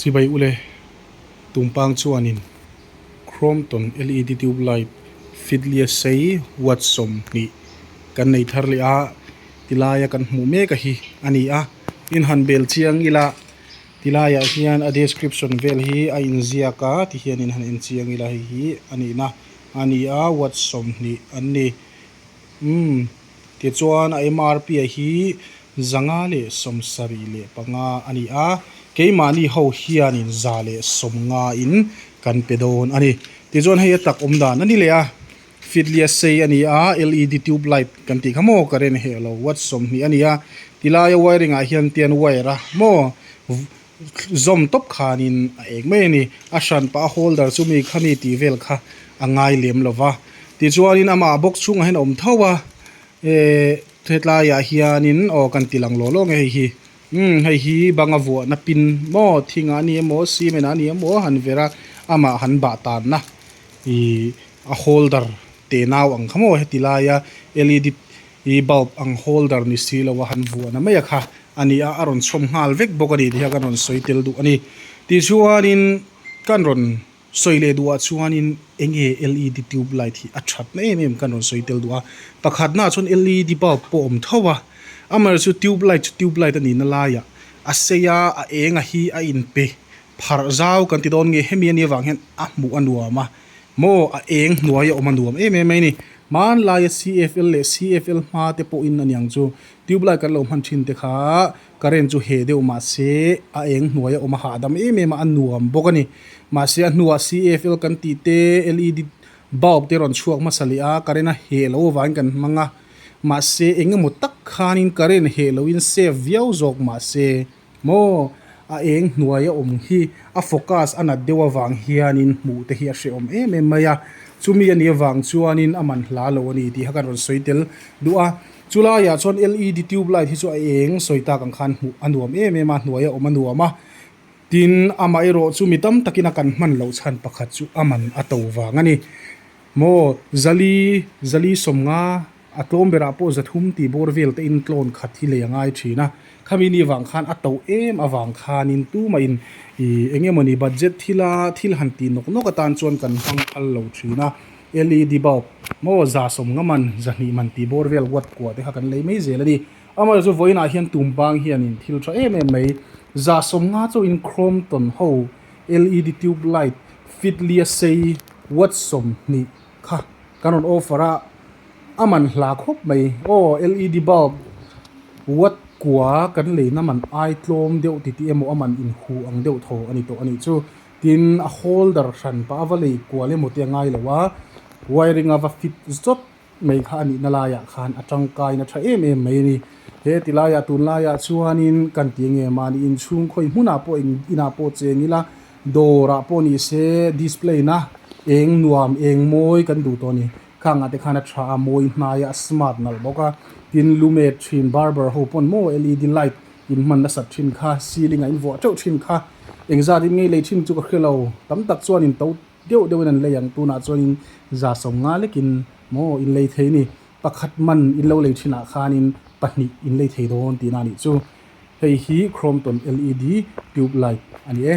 Chibai ule, Tumpang chuanin Crompton LED tube light fiddlia sei watt sawm hnih kan nei thar leh a, tilaia kan hmuh mek a hi a ni a, inhan bel chiang ila, ti laiah hian a description vel hi a inziak a ti hian inhan en chiang ila hei hi a nihna a ni a, watt sawm hnih an ni. Umm. Tichuan a mrp a hi zanga leh sawm sarih leh panga a ni a, keimahni ho hianin za leh sawm ngain kan pe dawn a ni. Tichuan hei a tak awm dan a ni leh a, Fitlia sei a ni a, LED tube light kan tih kha maw ka ren heh lo, watt sawmhnih a ni a, tilai a wiring ah hian tian wire a maw, zawm tawp khan in a êng mai a ni. A hran pah a hawl dar chu mi kha mi tih vel kha a ngai lem lo va. Tichuan in amah box chhungah hian a awm tho a. Ehh hetlai ah hian in aw kan ti lang lawh lawh nge hei hi. Umm hei hi bang a vuah na pin maw thing ah a ni emaw cement ah a ni emaw han ver a amah han bah tan na ihh a hawl dar teh nau ang kha maw heti laia led bulb ang hawl dar ni si lo a han vuah na mai a kha. a ni a, a rawn chhawm nghal vek bawk a ni tih hian kan rawn sawi tel duh a ni. Tih chuanin kan rawn sawi leh duhah chuanin eng nge LED tube light hi a that na em em kan rawn sawi tel duh a, pakhat na chuan LED bulb pawh a awm tho a, amaherawh chu tube light chu tube light a nihna laia a sei a, a eng a hi a in pe pharh zau kan ti dawn nge hemi ania vang hian a hmuh a nuam a maw a eng hnuaia awm a nuam em em mai a ni. Hmanlaia CFL leh CFL hma te pawhin aniang chu Tube light kan lo hman thin te kha current chu he deuh mahse a eng hnuai a awm a hahdam em em a, a nuam bawk a ni. Mahse a hnua CAFL kan tih te LED bulb te rawn chhuak hmasa leh a current a he lo avangin kan hmang a. Mahse engemaw tak khanin current he loin save viau zawk mahse. Maw? A eng hnuai a awm hi a focus a nat deuh avang hianin hmuh te hi a hrehawm em em mai a. Chumi a nih avang chuanin a man hla lo a ni tih kha kan rawn sawi tel duh a. Chu laiah chuan LED tube light hi chu a eng sawi tak ang khan hmuh a nuam em em a, hnuai a awm a nuam a. Tin, amaherawh chu mi tam takin a kan hman loh chhan pakhat chu a man a to vang a ni. Maw? Zali, Zali sawmnga A tlawm berah pawh zathum tihbawr vel te in tlawn khat hi lei a ngai thin a. Khami ni vang khan a to em avang khanin tuma in i eng emawni budget thil a thil han tih nawk nawk atan chuan kan hmang phal lo thin a. Led bulb, maw za sawm nga man, za hnih man tih bawr vel wat kuah te kha kan lei mai zel a ni. Amaherawh chu vawiin ah hian tum bang hian in thil tha em em mai. Za sawm nga chaw in Crompton ho led tube light fitlia sei watt sawm hnih kha kan rawn offer a a man hla khawp mai aw led bulb watt kua kan lei na man ai tlawm deuh titi emaw a man in hu ang deuh tho a ni tawh a nih chu tin a holder hran pah a va lei kual emaw te a ngai lo a wiring a va fit zawt mai kha a nih na lai ah khan a tangkai na tha em em mai a ni he ti lai ah tun lai ah chuan in kan ti eng em a ni in chhungkhawi hmun ah pawh in in ah pawh cheng ila Dawrah pawh ni se display na eng nuam eng mawi kan duh tawh a ni. Khang ah te khan a tha a, mawi hnaia a smart nalh bawk a. Tin lu met thin barber ho pawn maw led light in hman nasat thin kha, ceiling ah in vuah teuh thin kha. Engzat in ngei lei thin chu ka hre lo, tam tak chuan in to deuh deuh in an lei ang, tunah chuan in za sawm nga lek in maw in lei thei ni, pakhat man in lo lei thin ah khan in pahnih in lei thei dawn tihna a nih chu. Hei hi Crompton led tube light a ni e.